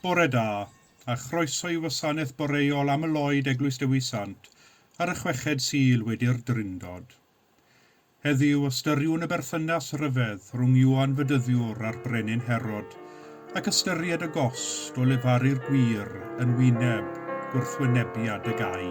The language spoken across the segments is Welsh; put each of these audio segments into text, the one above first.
Bore da, a chroeso i Wasanaeth Boreol Amyloid Eglwys Dewi Sant ar y chweched Sul wedi'r Drindod. Heddiw, ystyriwn y berthynas rhyfedd rhwng Ioan Fedyddiwr a'r Brenin Herod, ac ystyried y gost o lefaru'r gwir yn wyneb gwrthwynebiad y gau.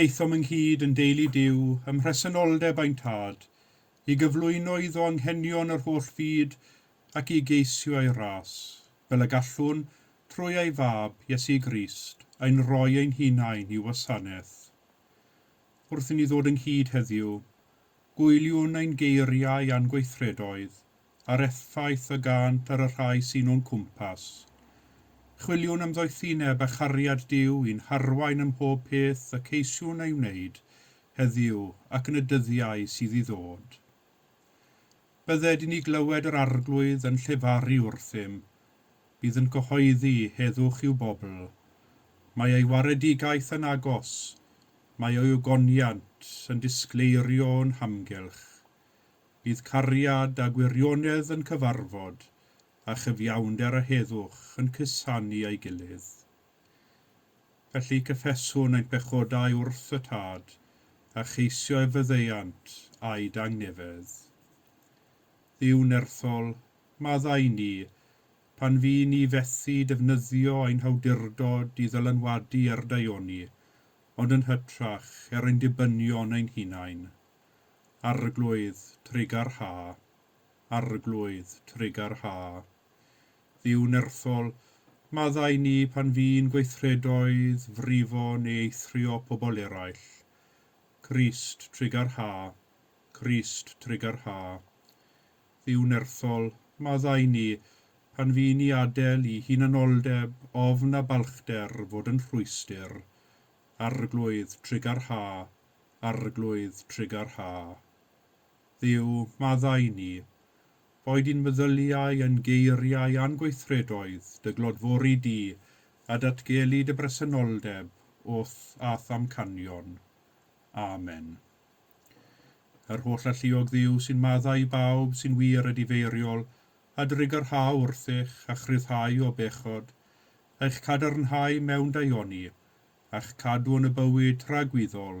Daethom ynghyd yn deulu Duw ym mhresenoldeb ein Tad, i gyflwyno iddo anghenion yr holl fyd ac i geisio ei ras, fel y gallwn, trwy ei fab, Iesu Grist, ein rhoi ein hunain i'w wasanaeth. Wrth i ni ddod ynghyd heddiw, gwyliwn ein geiriau a'n gweithredoedd a'r effaith y gânt ar y rhai sy'n o'n cwmpas. Chwiliwn am ddoethineb a chariad Duw i'n harwain ym mhob peth y ceisiwn ei wneud, heddiw ac yn y dyddiau sydd i ddod. Bydded i ni glywed yr Arglwydd yn llefaru wrthym, bydd yn cyhoeddi heddwch i'w bobl. Mae ei waredigaeth yn agos, mae ei ogoniant yn disgleirio o'n hamgylch. Bydd cariad a gwirionedd yn cyfarfod, a chyfiawnder a heddwch yn cusanu a'i gilydd. Felly cyffeswn ein pechodau wrth y Tad, a cheisio ei faddeuant a'i dangnefedd. Dduw nerthol, maddau ni pan fy ni fethu defnyddio ein hawdurdod i ddylanwadu ar daioni, ond yn hytrach er ein dibynion ein hunain. Arglwydd, trugarha. Arglwydd, trugarha. Dduw nerthol, maddau ni pan fu'n gweithredoedd, frifo neu eithrio pobl eraill. Crist, trugar ha. Crist, trugar ha. Dduw nerthol, maddau ni pan fu'n ni adel i hunanoldeb, ofn a balchder fod yn rhwystr. Arglwydd, trugar ha. Arglwydd, trugar ha. Dduw, maddau ni. Rhoi di'n meddyliau, yn geiriau a'n gweithredoedd, dy glodfori di, a datgelu dy bresenoldeb wrth a'th amcanion. Amen. Yr holl alluog Dduw sy'n maddau i bawb sy'n wir a difeiriol, a dy rygarhau wrthych, a'ch rhyddhau o bechod, a'ch cadarnhau mewn daioni, a'ch cadw yn y bywyd tragwyddol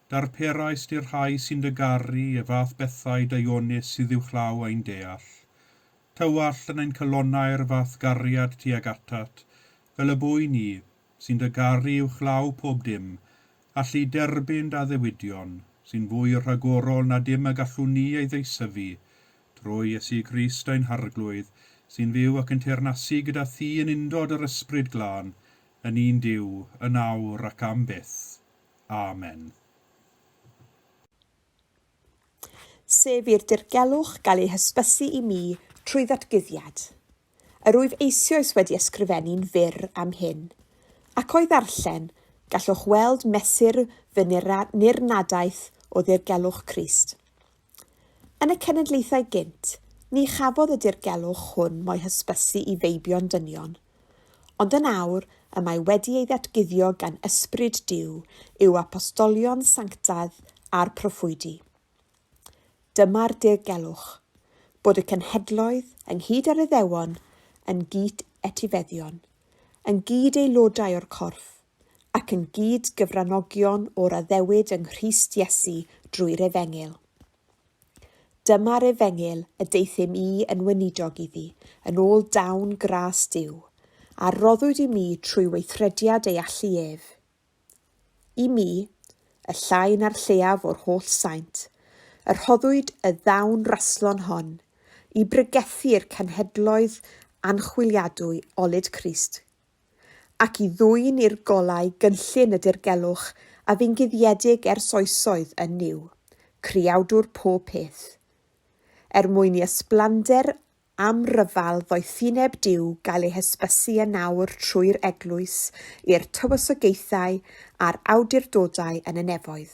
Darperaist i'r rhai sy'n dy garu y fath bethau daionus sydd uwchlaw ein deall. Tywallt yn ein calonnau'r fath gariad tuag atat, fel y bwy ni, sy'n dy garu uwchlaw pob dim, allu derbyn d' addewidion, sy'n fwy rhagorol na dim y gallwn ni ei ddeisyfu, trwy Iesu Grist ein Harglwydd, sy'n fyw ac yn teyrnasu gyda thi yn undod yr Ysbryd Glân, yn un Duw, yn awr ac am byth. Amen. Sef i'r dirgelwch gael ei hysbysu i mi trwy ddatguddiad. Yr wyf eisioes wedi ysgrifennu'n fyr am hyn. Ac o'i ddarllen, gallwch weld mesur fy nirnadaeth o ddirgelwch Crist. Yn y cenedlaethau gynt, ni chafodd y dirgelwch hwn mo'i hysbysu i feibion dynion. Ond yn awr, y mae wedi ei ddatguddio gan Ysbryd Duw yw apostolion sanctaidd a'r proffwydi. Dyma'r dirgelwch, bod y cenhedloedd, ynghyd â'r Iddewon, yn gyd-etifeddion, yn gyd-aelodau o'r corff, ac yn gyd-gyfranogion o'r addewid yng Nghrist Iesu drwy'r Efengyl. Dyma'r Efengyl y deuthum i yn weinidog iddi, yn ôl dawn gras Duw, a roddwyd i mi trwy weithrediad ei allu ef. I mi, y llai na'r lleiaf o'r holl saint, y rhoddwyd y ddawn raslon hon, i bregethu'r cenhedloedd anchwiliadwy olud Crist, ac i ddwyn i'r golau gynllun y dirgelwch a fu'n guddiedig ers oesoedd yn Nuw, Creawdwr pob peth. Er mwyn i ysblander amryfal ddoethineb Duw gael ei hysbysu yn awr trwy'r Eglwys i'r tywysogaethau a'r awdurdodau yn y nefoedd.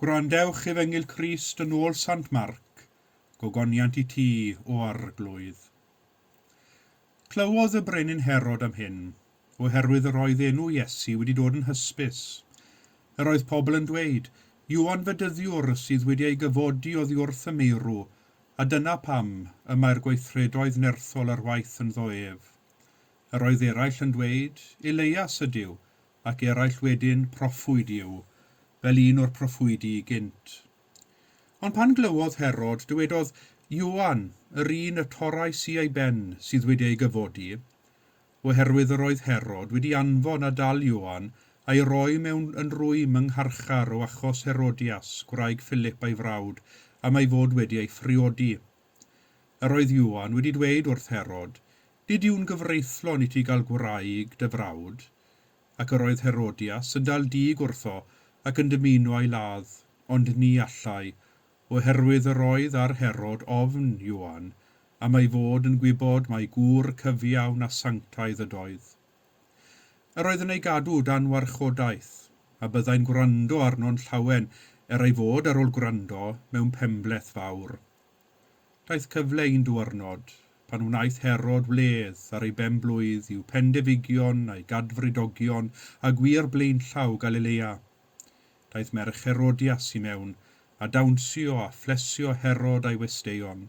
Gwrandewch Efengyl Crist yn ôl Sant Marc, Gogoniant i ti, O Arglwydd. Clywodd y Brenin Herod am hyn, oherwydd yr oedd enw Iesu wedi dod yn hysbys. Yr oedd pobl yn dweud, Ioan Fedyddiwr sydd wedi ei gyfodi oddi wrth y meirw, a dyna pam y mae'r gweithredoedd nerthol ar waith ynddo ef. Yr oedd eraill yn dweud, Elias ydyw, ac eraill wedyn proffwyd i'w, fel un o'r proffwydi i gynt. Ond pan glywodd Herod, dywedodd, Ioan, yr un y torrais i ei ben, sydd wedi ei gyfodi. Oherwydd yr oedd Herod wedi anfon a dal Ioan, a'i roi mewn yn rwym yng ngharchar o achos Herodias, gwraig Philip ei frawd, am ei fod wedi ei phriodi. Yr oedd Ioan wedi dweud wrth Herod, Nid yw'n gyfreithlon i ti gael gwraig dy frawd. Ac yr oedd Herodias yn dal dug wrtho ac yn dymuno a'i ladd, ond ni allai, o herwydd yr oedd ar Herod ofn Ioan am ei fod yn gwybod mai gŵr cyfiawn a sanctaidd ydoedd. Yr oedd yn ei gadw dan warchodaeth, a byddai'n gwrando arno'n llawen, er ei fod ar ol gwrando mewn penbleth fawr, Daeth cyfle un duarnod, pan wnaeth Herod wledd ar ei ben-blwydd i'w phendefigion a'i gadfridogion a gwir blaenllaw Galilea. Daeth merch Herodias i mewn, a dawnsio a phlesio Herod a'i westeion.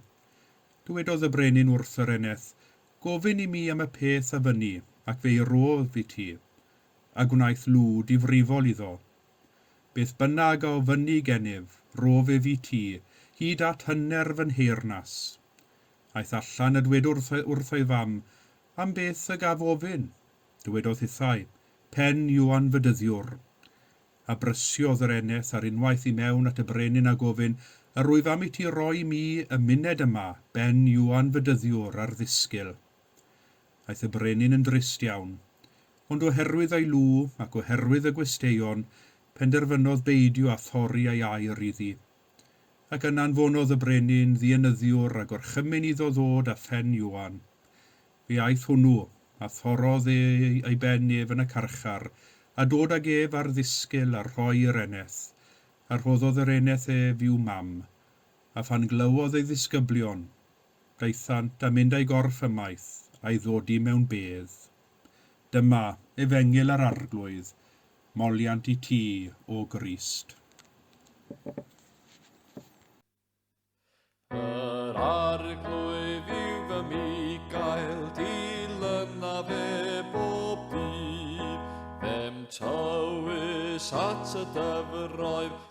Dywedodd y brenin wrth yr eneth, Gofyn i mi am y peth a fynni, ac fe'i rôf i ti. A gwnaeth lw difrifol iddo, Beth bynnag a ofynni gennyf, rhof ef i ti, hyd at hyner fy nheyrnas. Aeth allan a dwed wrth, wrth ei fam, Am beth y gaf ofyn? Dywedodd hithau, Pen yw anfydyddiwr. A brysiodd yr eneth ar unwaith i mewn at y brenin a gofyn, Yr wyf am i ti roi mi y myned yma, ben yw anfydyddiwr, ar ddisgyl? Aeth y brenin yn drist iawn. Ond oherwydd ei lw, ac oherwydd y gwesteion, penderfynodd beidio â thorri ei air iddi. Ac yna anfonodd y brenin ddienyddiwr a gorchymyn iddo ddod â phen Ioan. Fe aeth hwnnw, a thorrodd e ei ben ef yn y carchar, a dod ag ef ar ddisgyl a rhoi i'r eneth, a rhoddodd yr eneth ef i'w mam. A phan glywodd ei ddisgyblion, Daethant a mynd a'i gorff ymaith, a'i ddodi mewn bedd. Dyma, Efengyl yr Arglwydd, moliant i ti, O Grist. Yr Arglwydd yw fy Micael, dilyna fe bob dydd. Fe'm tywys at y dyfroedd,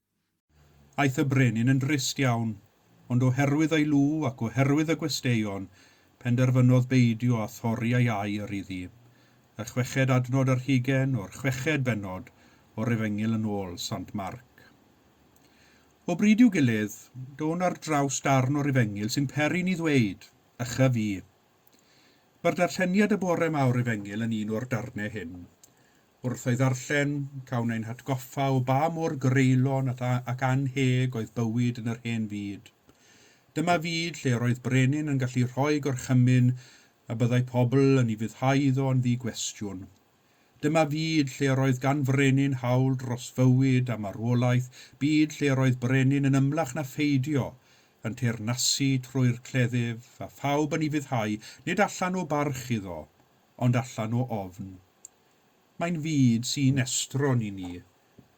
Aeth y brenin yn drist iawn, ond oherwydd ei lw ac oherwydd y gwesteion, penderfynodd beidio â thorri ei air iddi. Y chweched adnod yr hugain o'r chweched bennod o'r Efengyl yn ôl Sant Marc. O bryd i'w gilydd, down ar draws darn o'r Efengyl sy'n peri ni ddweud, Ychyf fi. Mae'r darlleniad y bore 'ma o'r Efengyl yn un o'r darnau hyn. Wrth ei ddarllen, cawn ein hatgoffa o ba mor greulon at a ac annheg oedd bywyd yn yr hen fyd. Dyma fyd lle yr oedd brenin yn gallu rhoi gorchymyn a byddai pobl yn ei fuddhau iddo yn ddi-gwestiwn. Dyma fyd lle yr oedd gan frenin hawl dros fywyd a marwolaeth, byd lle yr oedd brenin yn ymlach na pheidio yn teyrnasu trwy'r cleddyf, a phawb yn ei fuddhau, nid allan o barch iddo, ond allan o ofn. Mae'n fyd sy'n estron i ni,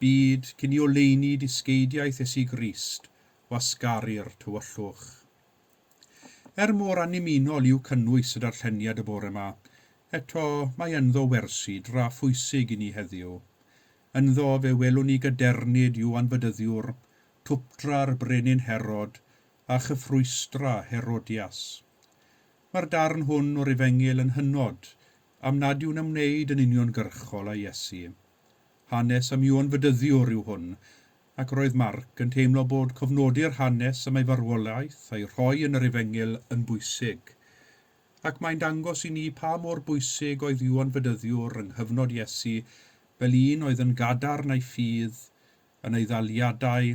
byd cyn i oleuni dysgeidiaeth Iesu Grist wasgaru'r tywyllwch. Er mor annymunol yw cynnwys y darlleniad y bore 'ma, eto mae ynddo wersi dra phwysig i ni heddiw. Ynddo fe welwn ni gadernid Ioan Bedyddiwr, twpdra'r brenin Herod, a chyffrwystra Herodias. Mae'r darn hwn o'r Efengyl yn hynod am nad yw'n ymwneud yn uniongyrchol â Iesu. Hanes am Iôn Fedyddiwr yw hwn, ac roedd Marc yn teimlo bod cofnodi'r hanes am ei farwolaeth a'i rhoi yn yr Efengyl yn bwysig. Ac mae'n dangos i ni pa mor bwysig oedd Iôn Fedyddiwr yng nghyfnod Iesu fel un oedd yn gadarn a'i ffydd yn ei ddaliadau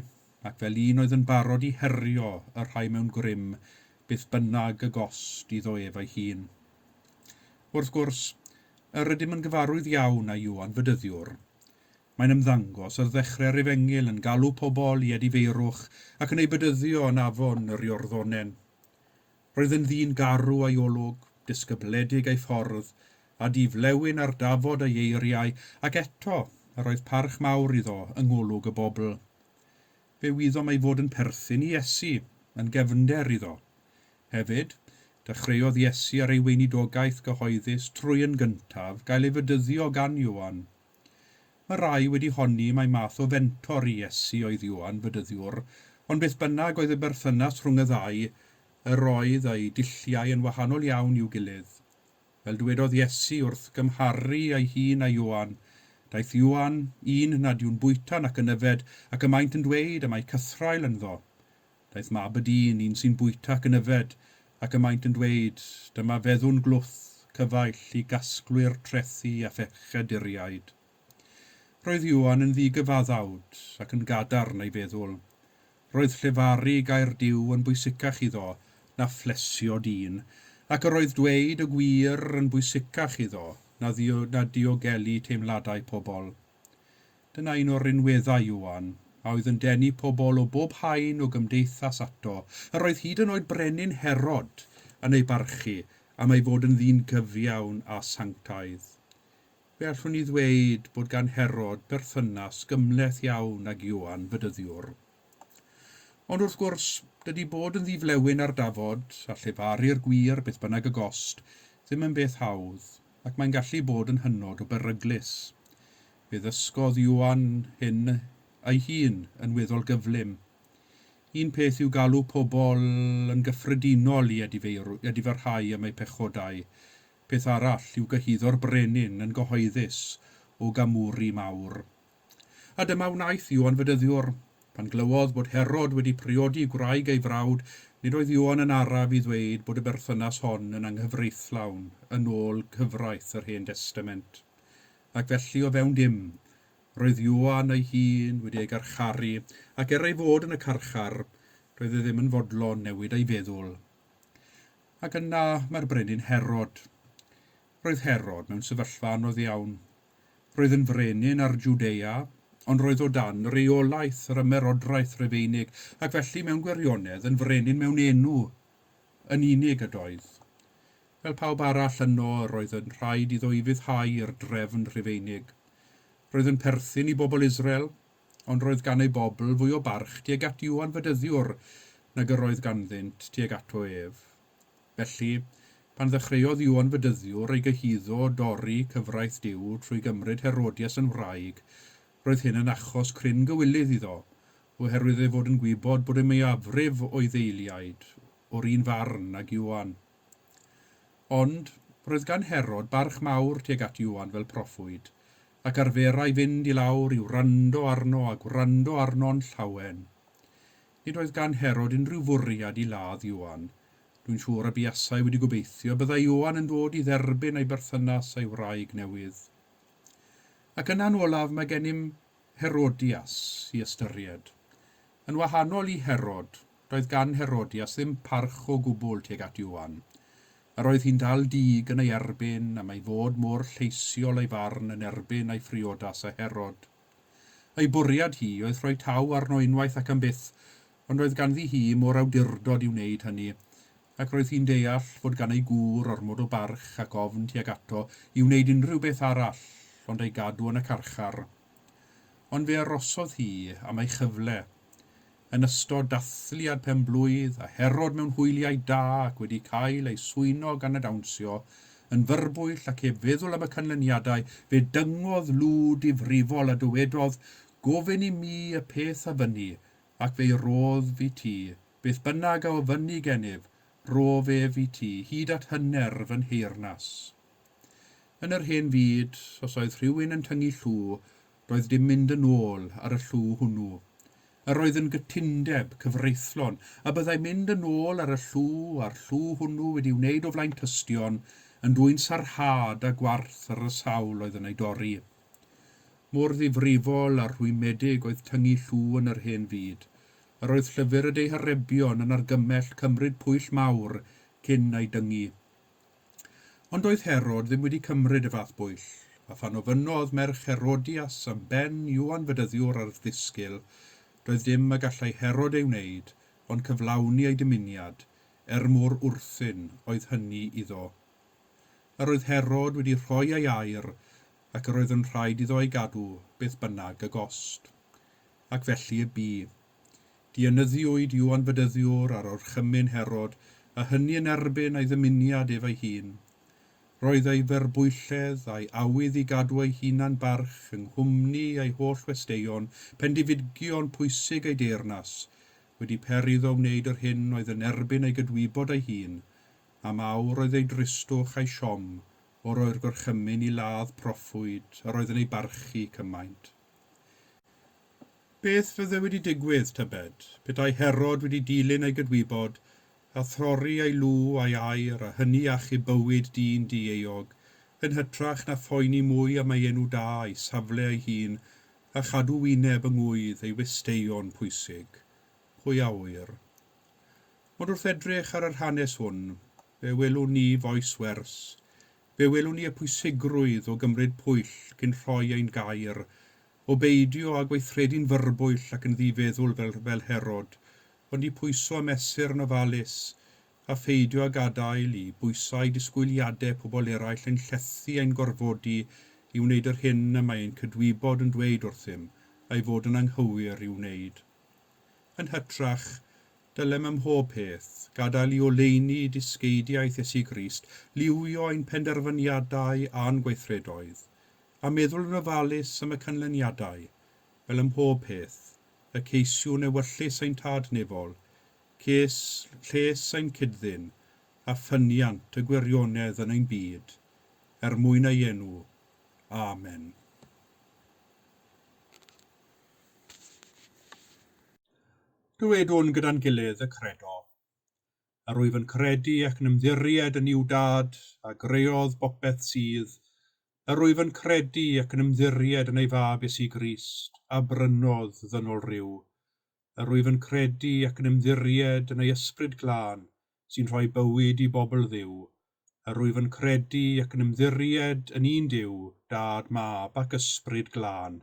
ac fel un oedd yn barod i herio y rhai mewn grym, beth bynnag y gost iddo ef ei hun. Wrth gwrs, yr ydym yn gyfarwydd iawn â Ioan Fedyddiwr. Mae'n ymddangos ar ddechrau'r Efengyl yn galw pobl i edifeirwch ac yn eu bedyddio yn afon yr Iorddonen. Roedd yn ddyn garw a'i olwg, disgybledig ei ffordd, a di-flewyn ar dafod ei eiriau, ac eto, yr oedd parch mawr iddo yng ngolwg y bobl. Fe wyddom ei fod yn perthyn i Iesu, yn gefnder iddo. Hefyd, dechreuodd Iesu ar ei weinidogaeth gyhoeddus trwy yn gyntaf gael ei fedyddio gan Ioan. Mae rhai wedi honni mai math o fentor i Iesu oedd Ioan Bedyddiwr, ond beth bynnag oedd y berthynas rhwng y ddau, yr oedd eu dulliau yn wahanol iawn i'w gilydd. Fel dywedodd Iesu wrth gymharu ei hun â Ioan, Daeth Ioan, un nad yw'n bwyta nac yn yfed, ac y maent yn dweud y mae cythraul ynddo. Daeth mab y dyn, un sy'n bwyta ac yn yfed, ac y maent yn dweud, Dyma feddwn glwth, cyfaill, i gasglwyr trethi a phechaduriaid. Roedd Ioan yn ddi-gyfaddawd, ac yn gadarn, ei feddwl. Roedd llefaru gair Duw yn bwysicach iddo na phlesio dyn, ac yr oedd dweud y gwir yn bwysicach iddo na ddiogelu teimladau pobl. Dyna un o'r rinweddau, Iwan, a oedd yn denu pobl o bob haen o gymdeithas ato. Yr oedd hyd yn oed Brenin Herod yn ei barchu am ei fod yn ddyn cyfiawn a sanctaidd. Fe allwn ni ddweud bod gan Herod berthynas gymhleth iawn ag Iwan, Bedyddiwr. Ond wrth gwrs, dydy bod yn ddi-flewyn ar dafod, a llefaru'r gwir, beth bynnag y gost, ddim yn beth hawdd. ac mae'n gallu bod yn hynod o beryglus. Fe ddysgodd Ioan hyn ei hun yn weddol gyflym. Un peth yw galw pobl yn gyffredinol i edifeirw-edifyrhau am eu pechodau, peth arall yw gyhuddo'r brenin yn gyhoeddus o gamwri mawr A dyma wnaeth Ioan Fedyddiwr. Pan glywodd bod Herod wedi priodi gwraig ei frawd, nid oedd Ioan yn araf i ddweud bod y berthynas hon yn anghyfreithlawn yn ôl cyfraith yr Hen Destament. Ac felly, o fewn dim, roedd Ioan ei hun wedi ei garcharu, ac er ei fod yn y carchar, doedd e ddim yn fodlon newid ei feddwl. Ac yna mae'r brenin Herod. Roedd Herod mewn sefyllfa anodd iawn. Roedd yn frenin ar Jwdea, ond roedd o dan reolaeth yr Ymerodraeth Rufeinig, ac felly, mewn gwirionedd, yn frenin mewn enw yn unig ydoedd. Fel pawb arall yno, yr oedd yn rhaid iddo ufuddhau i'r drefn Rhufeinig. Roedd yn perthyn i bobl Israel, ond roedd gan ei bobl fwy o barch tuag at Iwan Fedyddiwr nag yr oedd ganddynt tuag ato ef. Felly, pan ddechreuodd Iwan Fedyddiwr ei gyhuddo o dorri cyfraith Duw trwy gymryd Herodias yn wraig, roedd hyn yn achos cryn gywilydd iddo, oherwydd ei fod yn gwybod bod y mwyafrif o'i ddeiliaid o'r un farn ag Iwan. Ond, roedd gan Herod barch mawr tuag at Iwan fel proffwyd, ac arferai fynd i lawr i wrando arno a gwrando arno'n llawen. Nid oedd gan Herod unrhyw fwriad i ladd Ioan. Dwi'n siŵr y buasai wedi gobeithio y byddai Ioan yn dod i dderbyn ei berthynas a'i wraig newydd. Ac yna'n olaf mae gennym Herodias i ystyried. Yn wahanol i Herod, doedd gan Herodias ddim parch o gwbl tuag at Ioan. Yr oedd hi'n dal dug yn ei erbyn am ei fod mor lleisiol ei farn yn erbyn ei phriodas â Herod. Ei bwriad hi oedd rhoi taw arno unwaith ac am byth, ond roedd ganddi hi mo'r awdurdod i wneud hynny, ac roedd hi'n deall fod gan ei gŵr ormod o barch ac ofn tuag ato i wneud unrhyw beth arall ond ei gadw yn y carchar. Ond fe arosodd hi am ei chyfle. yn ystod dathliad pen-blwydd a Herod mewn hwyliau da ac wedi cael ei swyno gan y dawnsio yn fyrbwyll ac heb feddwl am y canlyniadau, fe dyngodd lw difrifol a dywedodd, Gofyn i mi y peth a fynni, ac fe'i rodd fi ti, beth bynnag a ofynni genyf, rof ef i ti, hyd at hyner fy nheyrnas. Yn yr hen fyd, os oedd rhywun yn tyngu llw, Doedd dim mynd yn ôl ar y llw hwnnw. Yr oedd yn gytundeb cyfreithlon y byddai mynd yn ôl ar y llw a'r llw hwnnw wedi'i wneud o flaen tystion yn dwyn sarhad a gwarth ar y sawl oedd yn ei dorri. Mor ddifrifol a rhwymedig oedd tyngu llw yn yr hen fyd. Yr oedd llyfr y deiharebion yn argymell cymryd pwyll mawr cyn ei dyngu. Ond doedd Herod ddim wedi cymryd y fath bwyll, a phan ofynnodd merch Herodias am ben Iwan Fedyddiwr ar ddisgil, doedd dim y gallai Herod ei wneud ond cyflawni ei dymuniad, er mor wrthun oedd hynny iddo. Yr oedd Herod wedi rhoi ei air, ac yr oedd yn rhaid iddo ei gadw, beth bynnag y gost. Ac felly y bu. Dienyddiwyd Ioan Bedyddiwr ar orchymyn Herod, a hynny yn erbyn ei ddymuniad ef ei hun. Roedd ei ferbwylledd a'i awydd i gadw ei hunan barch yng nghwmni ei holl westeion, pendifidion pwysig ei deyrnas, wedi peri iddo wneud yr hyn oedd yn erbyn ei gydwybod ei hun, am awr oedd ei dristwch a'i siom o roi'r gorchymyn i ladd proffwyd yr oedd yn ei barchu cymaint. Beth fydde wedi digwydd, tybed, petai Herod wedi dilyn ei gydwybod, a throri ei lw a'i air, a hynny achub bywyd dyn dieuog, yn hytrach na phoeni mwy am ei enw da, ei safle ei hun, a chadw wyneb yng ngŵydd ei westeion pwysig? Pwy a ŵyr. Ond wrth edrych ar yr hanes hwn, fe welwn ni fois wers. Fe welwn ni y pwysigrwydd o gymryd pwyll cyn rhoi ein gair, O beidio â gweithredu'n fyrbwyll ac yn ddifeddwl fel fel Herod, ond i pwyso a mesur yn ofalus, a pheidio â gadael i bwysau disgwyliadau pobl eraill ein llethu a'n gorfodi i wneud yr hyn y mae ein cydwybod yn dweud wrthym ei fod yn anghywir i'w wneud. Yn hytrach, dylem ym mhob peth gadael i oleuni dysgeidiaeth Iesu Grist liwio ein penderfyniadau a'n gweithredoedd, a meddwl yn ofalus am y canlyniadau, fel ym mhob peth, y ceisiwn ewyllys ein Tad Nefol, ces, lles ein cyd-ddyn, a ffyniant y gwirionedd yn ein byd, er mwyn ei enw. Amen. Dywedwn gyda'n gilydd y Credo. a rwyf yn credu ac yn ymddiried yn i'w Dad, a greodd bopeth sydd, a rwyf yn credu ac yn ymddiried yn ei Fab Iesu Grist, a brynodd ddynol ryw, a rwyf yn credu ac yn ymddiried yn ei Ysbryd Glân, sy'n rhoi bywyd i bobl Dduw, a rwyf yn credu ac yn ymddiried yn un Duw, Dad, Mab, ac Ysbryd Glân.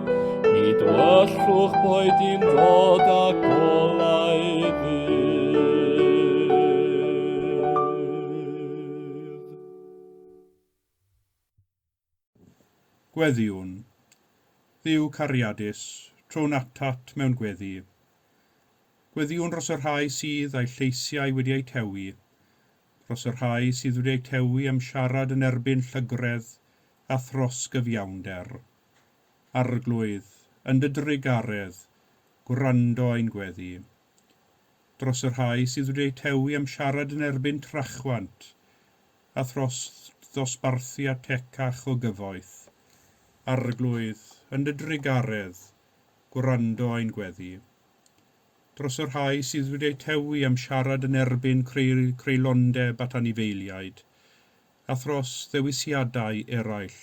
Nid wellwch boed i'n ddod a golau Gweddïwn, Dduw cariadus, trown atat mewn gweddi. Gweddïwn dros y rhai sydd â'u lleisiau wedi eu tewi, dros y rhai sydd wedi eu tewi am siarad yn erbyn llygredd a thros gyfiawnder. Arglwydd, yn dy drugaredd, gwrando ein gweddi. Dros y rhai sydd wedi eu tewi am siarad yn erbyn trachwant, a thros ddosbarthu at ecach o gyfoeth. Arglwydd, yn dy drugaredd, gwrando ein gweddi. Dros y rhai sydd wedi eu tewi am siarad yn erbyn creulondeb at anifeiliaid, a thros ddewisiadau eraill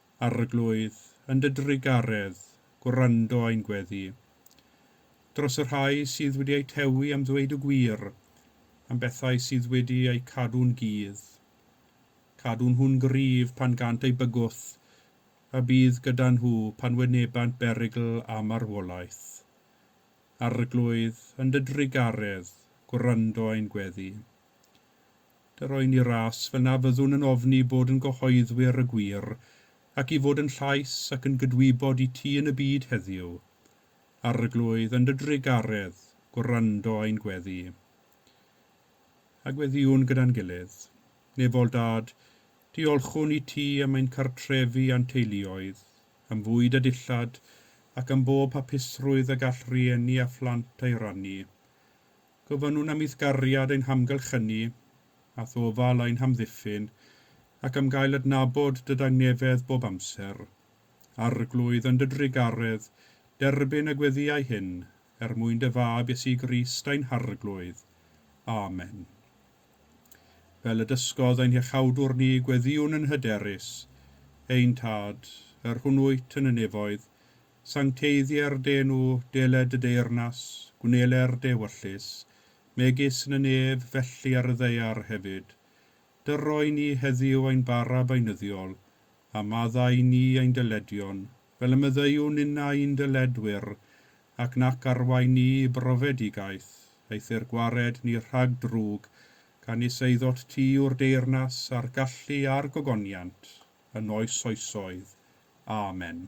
Arglwydd, yn dy drugaredd, gwrando ein gweddi. Dros y rhai sydd wedi eu tewi am ddweud y gwir, am bethau sydd wedi eu cadw'n gudd. Cadw nhw'n gryf pan gânt eu bygwth, a bydd gyda nhw pan wynebant berygl a marwolaeth. Arglwydd, yn dy drugaredd, gwrando ein gweddi. Yr oen i ras, fel na fyddwn yn ofni bod yn gyhoeddwyr y gwir, ac i fod yn llais ac yn gydwybod i ti yn y byd heddiw. Arglwydd, yn dy drugaredd, gwrando ein gweddi. A gweddiwn gyda'n gilydd. Nefol Dad, diolchwn i ti am ein cartrefi a'n teuluoedd, am fwyd a dillad, ac am bob hapusrwydd y gall rhieni a phlant ei rannu. Gofynnwn am eithgariad ein hamgylch ynni a thofal ein hamddiffyn ac am gael adnabod dy dangnefedd bob amser. Arglwydd, yn dy drugaredd, derbyn y gweddïau hyn, er mwyn dy Fab, Iesu Grist, ein Harglwydd. Amen. Fel y dysgodd ein Hiachawdwr ni, gweddïwn yn hyderus, Ein Tad, yr hwn wyt yn y nefoedd, Sancteiddier de nhw, deled y deyrnas, gwneler de wyllys, megis yn y nef, felly ar y ddaear hefyd. Dyro i ni heddiw ein bara beunyddiol, a madda i ni ein dyledion, fel y myddeuwn inna i'n dyledwyr, ac nac arwain ni i brofedigaeth, eithr gwared ni rhag drwg, gan is eiddot ti yw'r deyrnas, a'r gallu, a'r gogoniant, yn oes oesoedd. Amen.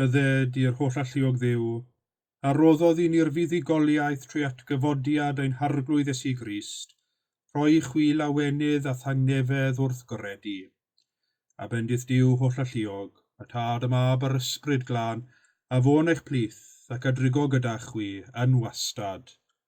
Bydded i'r holl alluog Dduw, a roddodd i ni'r fuddugoliaeth trwy atgyfodiad ein harglwydd Iesu Grist, rhoi i chwi lawenydd a thangnefedd wrth gyrred i. A bendith Duw holl alluog, y Tad, y Mab, a'r Yspryd Glân, a fo yn eich plith, ac a drigo gyda chwi, yn wastad.